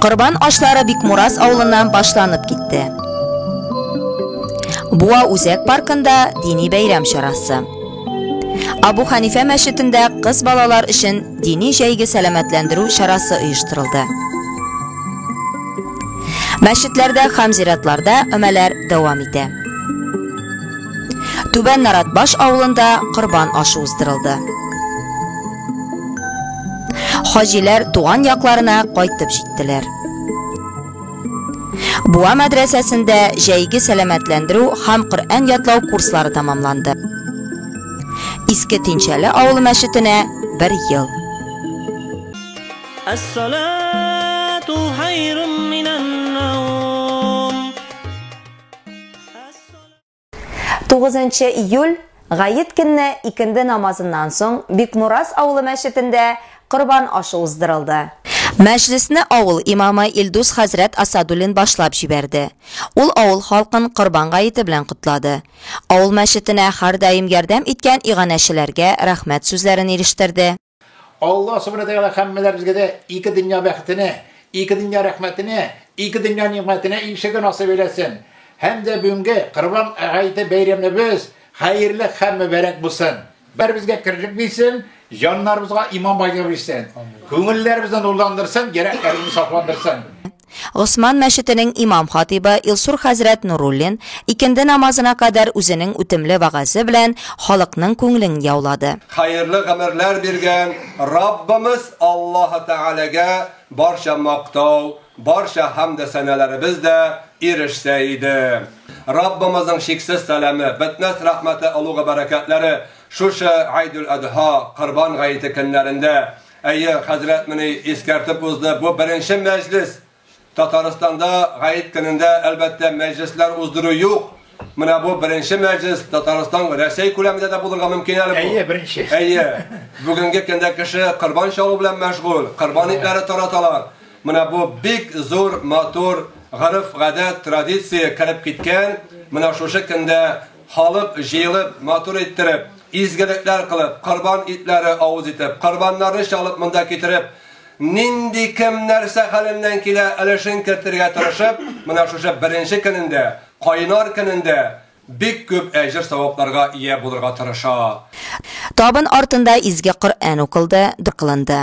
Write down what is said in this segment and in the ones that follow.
Корбан ашлары Бикмурас авылыннан башланып китте. Буа үзәк паркында дини бәйрәм чарасы. Абу Ханифә мәчетендә кыз балалар өчен дини җәйге сәламәтләндерү чарасы оештырылды. Мәчетләрдә һәм зиратларда өмәләр дәвам итә. Түбән Наратбаш авылында корбан ашы уздырылды. Хаҗиләр туган якларына кайтып җиттеләр. Буа мәдрәсәсендә җәйге сәламәтләндерү һәм Коръән ятлау курслары тәмамланды. Иске Тинчәле авылы мәчетенә бер ел. Әссалату хайрун минән 9 июль Гаит көнне икенде намазыннан соң Бикмурас авылы мәчетендә корбан ашы уздырылды. Мәҗлесне авыл имамы Илдус хәзрәт Асадуллин башлап җибәрде. Ул авыл халкын Корбан гаете белән котлады. Авыл мәчетенә һәрдаим ярдәм иткән иганәчеләргә рәхмәт сүзләрен ирештерде. Алла Субхана Тәгалә һәммәләребезгә дә ике дөнья бәхетенә, ике дөнья рәхмәтенә, ике дөнья нимәтенә ирешергә насыйп әйләсен. Һәм дә бүгенге Корбан гаете бәйрәмебез хәерле һәм мөбарәк булсын. Бәребезгә керлек бирсен, җаннарыбызга иман байлыгы бирсен. Күңелләребезне нурландырсын, йөрәкләребезне сафландырсын. Госман мәчетенең имам-хатыйбы Илсур хәзрәт Нуруллин икенде намазына кадәр үзенең үтемле вәгазе белән халыкның күңелен яулады. Хәерле гомерләр биргән Раббымыз Аллаһы Тәгаләгә барча мактау, барча хәмде сәналәребез дә ирешсә иде. Раббымызның чиксез сәламе, бетмәс рәхмәте, олугы бәрәкәтләре шушы Гайдүл-Адһа, Корбан гаете көннәрендә Әйе, хәзрәт мени искәртеп узды, бу беренче мәҗлес. Татарстанда гаит көнендә әлбәттә мәҗлесләр уздыру юк. Менә бу беренче мәҗлес Татарстан Россия күләмендә дә булырга мөмкин әле бу. Әйе, беренче. Әйе. Бүгенге көндә кеше корбан чалу белән мәшгуль, корбан итләре тараталар. Менә бу бик зур, матур, гореф-гадәт, традиция кереп киткән. Менә шушы көндә Халык җыелып, матур иттереп, изгелекләр кылып, корбан итләре авыз итеп, корбаннарны чалып монда китереп, нинди кем нәрсә хәленнән килә, өлешен кертергә тырышып, менә шушы беренче көнендә, кайнар көнендә бик күп әҗер-савапларга ия булырга тырыша. Табын артында изге Коръән укылды, дога кылынды.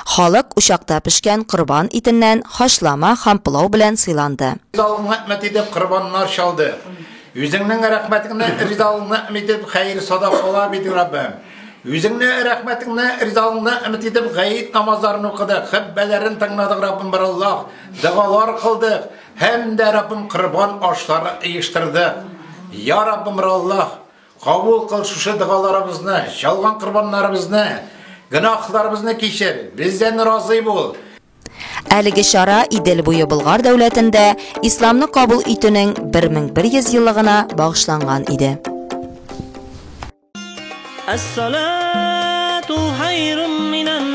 Халык учакта пешкән корбан итеннән хачлама һәм пылау белән сыйланды. Зал үмәт-мәт итеп корбаннар чалды. Үзеңнең рәхмәтеңне, ризалыгыңны өмет итеп, хәер садакалар бирдек, Раббым. Үзеңне рәхмәтеңне, ризалыгыңны өмет итеп, гает намазларын укыдык, хөтбәләрен тыңладык, Раббым, бер Аллаһ, догалар кылдык һәм дә, Раббым, корбан ашлары оештырдык. Я Раббым, бер Аллаһ, кабул кыл шушы догаларыбызны, чалган корбаннарыбызны, гөнаһларыбызны кичер, бездән разый бул. Әлеге чара Идел буе Болгар дәүләтендә исламны кабул итүнең 1100 еллыгына багышланган иде. Әссалату хайрун минән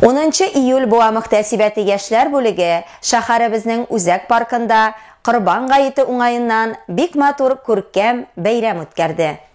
Унынчы июль буа мөхтәсибәте яшьләр бүлеге шәһәребезнең үзәк паркында Корбан гаете уңаеннан бик матур күркәм бәйрәм үткәрде.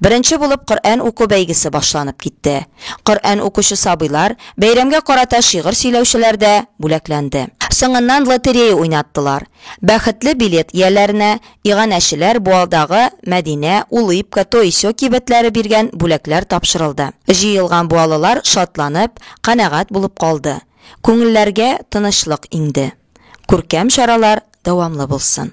Беренче булып Коръән уку бәйгесе башланып китте. Коръән укучы сабыйлар, бәйрәмгә карата шигырь сөйләүчеләр дә бүләкләнде. Соңыннан лотерея уйнаттылар. Бәхетле билет ияләренә иганәчеләр Буалдагы Мәдинә, Улыбка, Тоисё кибетләре биргән бүләкләр тапшырылды. Җыелган буалылар шатланып, канәгать булып калды. Күңелләргә тынычлык иңде. Күркәм чаралар дәвамлы булсын!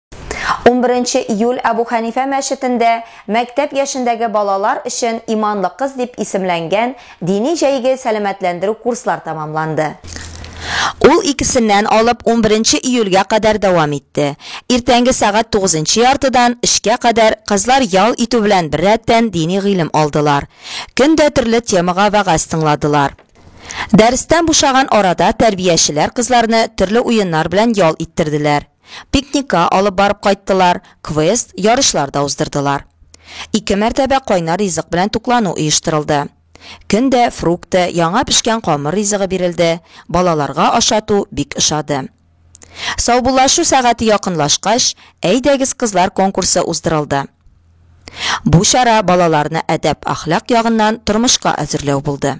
11 июль Әбу Хәнифә мәчетендә мәктәп яшендәге балалар өчен Иманлы кыз дип исемләнгән дини җәйге сәламәтләндерү курслар тәмамланды. Ул икесеннән алып унберенче июльгә кадәр дәвам итте. Иртәнге сәгать тугызынчы яртыдан өчкә кадәр кызлар ял итү белән беррәттән дини гыйлем алдылар. Көн дә төрле темага вәгазь тыңладылар. Дәрестән бушаган арада тәрбиячеләр кызларны төрле уеннар белән ял иттерделәр. Пикникка алып барып кайттылар, квест, ярышлар да уздырдылар. Ике мәртәбә кайнар ризык белән туклану оештырылды. Көн дә фрукты, яңа пешкән камыр ризыгы бирелде, балаларга ашату бик ошады. Саубуллашу сәгате якынлашкач, Әйдәгез, кызлар конкурсы уздырылды. Бу чара балаларны әдәп-әхлак ягыннан тормышка әзерләү булды.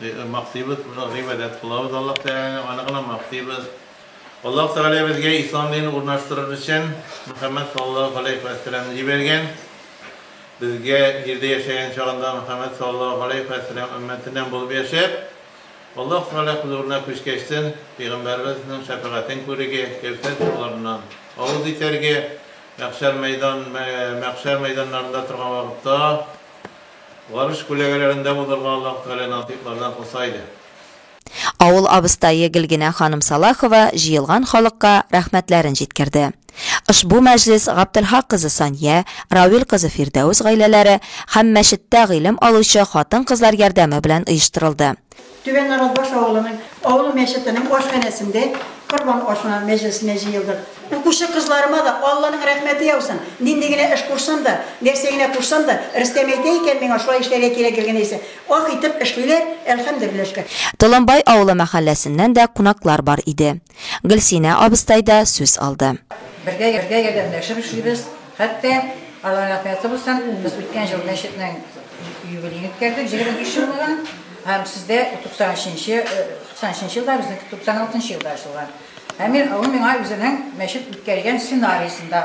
Мактыйбыз, гыйбадәт кылабыз Аллаһ Тәгаләне, аны гына мактыйбыз. Аллаһ Тәгалә безгә ислам динен урнаштырыр өчен Мөхәммәд саллаллаһу галәйһи вә сәламне җибәргән. Безгә җирдә яшәгән чагында Мөхәммәд саллаллаһу галәйһи вә сәлам өммәтеннән булып яшәп, Аллаһ Тәгалә хозурына күчкәчтен пәйгамбәребезнең шәфәгатен күрергә, Кәүсәр суларыннан авыз итәргә, мәхшәр мәйдан мәхшәр мәйданнарында торган вакытта, Варыш күләгәләрендә узарга Аллаһ Тәгалә насыйплардан кылса иде. Авыл абыстае Гөлгенә ханым Салахова җыелган халыкка рәхмәтләрен җиткерде. Ошбу мәҗлес Гаптелхак кызы Сания, Рауил кызы Фирдәүс гаиләләре һәм мәчеттә гыйлем алучы хатын-кызлар ярдәме белән оештырылды. Түбән Нарасбаш авылының авыл мәчетенең ашханәсендә корбан ашына мәҗлесенә җыелдык. Укучы кызларыма да Алланың рәхмәте яусын, нинди генә эш кушсам да, нәрсә генә кушсам да, Рөстәм әйтә икән миңа шулай эшләргә кирәк гел генә исә, ах итеп эшлиләр, әлхәмдерлиләр шөкер. Толымбай авылы мәхәлләсеннән дә кунаклар бар иде. Гөлсинә абыстай да сүз алды. Бергә ярдәмләшеп эшлибез. Хәтта, Алла рәхмәте булсын, без үткән ел мәчетнең юбилеен үткәрдек, 25 еллыгын. Һәм сездә 90 нчы, 90 нчы елда, безнеке 96 нчы елда ачылган. Һәм мин, ул миңа үзенең мәчет үткәргән сценариясен дә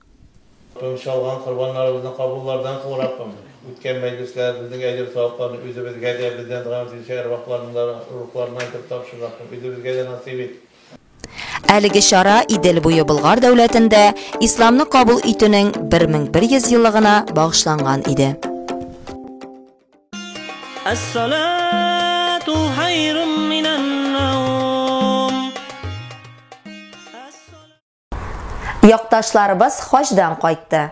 Тынч алган корбаннарыбызны кабуллардан кыл, Раббым. Үткән мәҗлесләр, безнең әҗер-савапларны үзебезгә дә, бездән дога итүче әрвахларның да рухларына итеп тапшыр, Раббым. Үзебезгә дә насыйп ит. Әлеге чара Идел буе Болгар дәүләтендә Исламны кабул итүнең 1100 еллыгына багышланган иде. Әс-салату хайрун минән-наум. Якташларыбыз хаҗдан кайтты.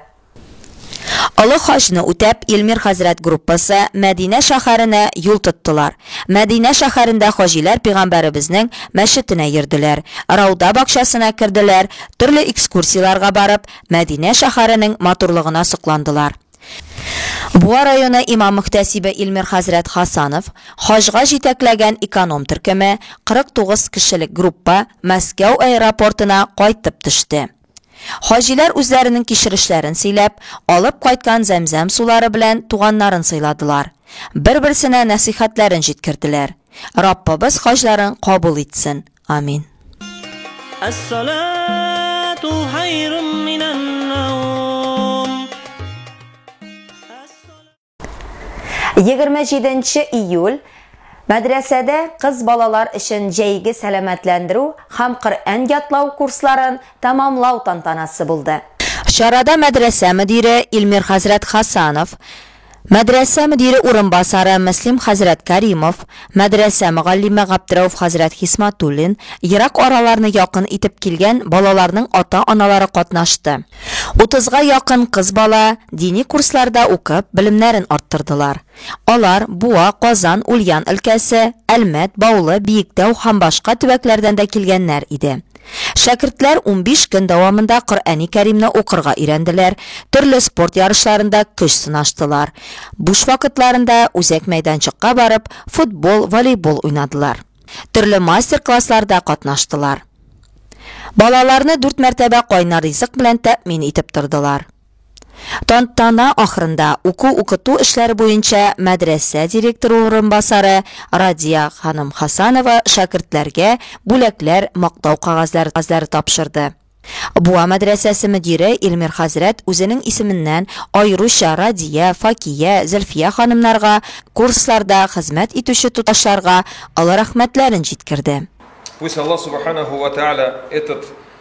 Олы хаҗны үтәп, Илмир хәзрәт группасы Мәдинә шәһәренә юл тоттылар. Мәдинә шәһәрендә хаҗиләр пигамбәребезнең мәчетенә йөрделәр, Рауда бакчасына керделәр, төрле экскурсияләргә барып, Мәдинә шәһәренең матурлыгына сокландылар. Буа районы имам-мөхтәсибе Илмир хәзрәт Хасанов, хаҗга җитәкләгән эконом төркеме, 49 кешелек группа Мәскәү аэропортына кайтып төште. Хаҗиләр үзләренең кичерешләрен сөйләп, алып кайткан зәмзәм сулары белән туганнарын сыйладылар, бер-берсенә нәсыйхәтләрен җиткерделәр, Раббыбыз хаҗларын кабул итсен, Амин. Егерме җиденче июль Мәдрәсәдә кыз балалар өчен җәйге сәламәтләндерү һәм Коръән ятлау курсларын тәмамлау тантанасы булды. Чарада мәдрәсә мөдире Илмир хәзрәт Хасанов, Мәдрәсә мөдире урынбасары Мөслим хәзрәт Кәримов, мәдрәсә мөгаллиме Габдрәүф хәзрәт Хисматуллин, ерак араларны якын итеп килгән балаларның ата-аналары катнашты. Утызга якын кыз бала дини курсларда укып, белемнәрен арттырдылар. Алар Буа, Казан, Ульян өлкәсе, Әлмәт, Баулы, Биектау һәм башка төбәкләрдән дә килгәннәр иде. Шәкертләр унбиш көн дәвамында Коръәни Кәримне укырга өйрәнделәр, төрле спорт ярышларында көч сынаштылар. Буш вакытларында үзәк мәйданчыкка барып, футбол, волейбол уйнадылар. Төрле мастер-классларда катнаштылар. Балаларны дүрт мәртәбә кайнар ризык белән тәэмин итеп тордылар. Тантана ахырында уку-укыту эшләре буенча мәдрәсә директоры урынбасары Радия ханым Хасанова шәкертләргә бүләкләр, мактау кәгазьләре тапшырды. Буа мәдрәсәсе мөдире Илмир хәзрәт үзенең исеменнән аеруча Радия, Факия, Зөлфия ханымнарга, курсларда хезмәт итүче туташларга олы рәхмәтләрен җиткерде. Пусть Аллаһ Субханаху ва Тәгалә этот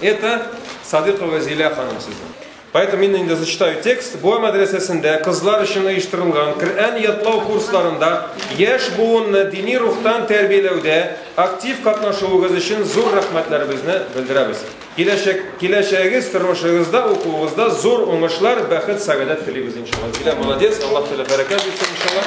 Это Садыйкова Зилә ханым сезнең. Поэтому мин инде зачитаю текст. Буа мәдрәсәсендә кызлар өчен оештырылган Коръән ятлау курсларында яшь буынны дини рухтан тәрбияләүдә актив катнашуыгыз өчен зур рәхмәтләребезне белдерәбез. Киләчәк, киләчәгегез, тормышыгызда, укуыгызда зур уңышлар, бәхет, сәгадәт телибез иншалла. Зилә молодец, Аллаһ Тәгалә бәрәкәт бирсен иншалла.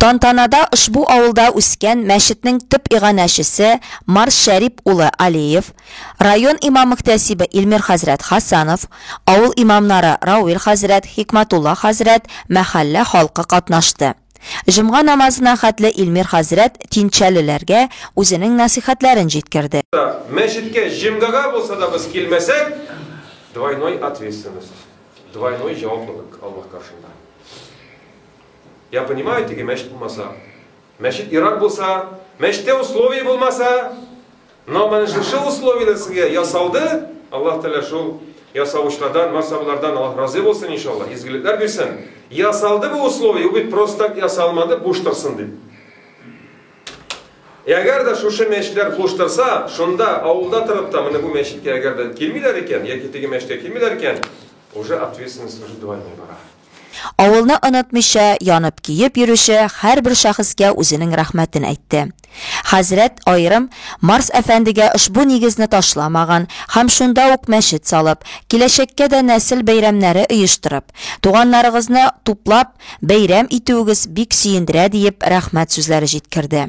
Тантанада ошбу авылда үскән мәчетнең төп иганәчесе Марс Шәрип улы Алиев, район имам-мөхтәсибе Илмир хәзрәт Хәсәнов, авыл имамнары Рауил хәзрәт, Хикмәтулла хәзрәт, мәхәллә халкы катнашты. Җомга намазына хәтле Илмир хәзрәт тинчәлеләргә үзенең нәсыйхәтләрен җиткерде. Мәчеткә җомгага булса да без килмәсәк, двойной ответственность, двойной җаваплылык Аллаһ каршында. Я понимаю, теге мәчет булмаса, мәчет ерак булса, мәчеттә условия булмаса, но менә шушы условияләр сезгә ясалды, Аллаһ Тәгалә шул ясавычлардан, масабылардан Аллаһ разый булсын иншаллаһ, изгелекләр бирсен. Ясалды бу условие, бит просто так ясалмады, буш торсын дип. Әгәр дә шушы мәчетләр буш торса, шунда авылда торып та менә бу мәчеткә әгәр дә килмиләр икән, яки теге мәчеткә килмиләр икән, уже ответственность уже двойной бара. Авылны онытмыйча, янып-көеп йөрүче һәрбер шәхескә үзенең рәхмәтен әйтте. Хәзрәт аерым Марс әфәндегә ошбу нигезне ташламаган һәм шунда ук мәчет салып, киләчәккә дә нәсел бәйрәмнәре оештырып, туганнарыгызны туплап бәйрәм итүегез бик сөендерә, диеп рәхмәт сүзләре җиткерде.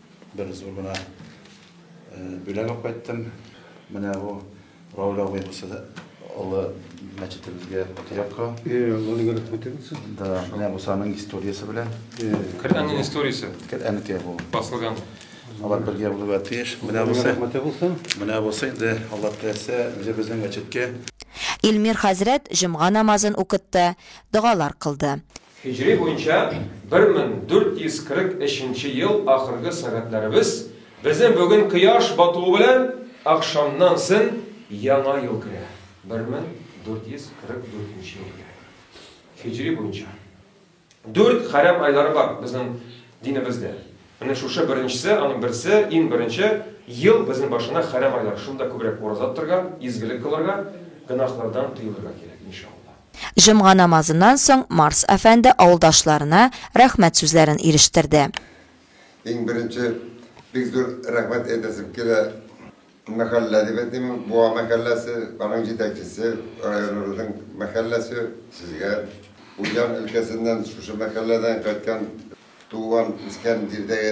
Бер зур гына бүләк алып кайттым. Менә бу Рауль абый булса да олы мәчетебезгә патриарха. Э, Алланың рәхмәте булсын. Да, менә бу санның историясе белән. Э. Коръәннең историясе. Коръәннеке бу. Басылган. Алар бергә булырга тиеш. Менә бу рәхмәте булсын. Менә бу инде Аллаһ теләсә, үзе безнең мәчеткә Илмир хәзрәт җомга намазын укытты, догалар кылды. Һиҗри буенча 1443 нче ел ахыргы сәгатьләребез безнең бүген кояш батуы белән ахшамнан сон яңа ел керә. 1444 нче ел керә. Һиҗри буенча. Дүрт хәрәм айлары бар безнең динебездә. Менә шушы беренчесе, аның берсе, иң беренче ел безнең башына хәрәм айлар. Шунда күбрәк ураза тотарга, изгелек кылырга, гөнаһлардан тыелырга кирәк, иншалла. Җомга намазыннан соң Марс әфәнде авылдашларына рәхмәт сүзләрен ирештерде. Иң беренче, бик зур рәхмәт әйтәсем килә мәхәллә дип әйтим, Буа мәхәлләсе, аның җитәкчесе, районыбызның мәхәлләсе, сезгә. Уҗа өлкәсеннән, шушы мәхәлләдән кайткан туган-үскән җирдәге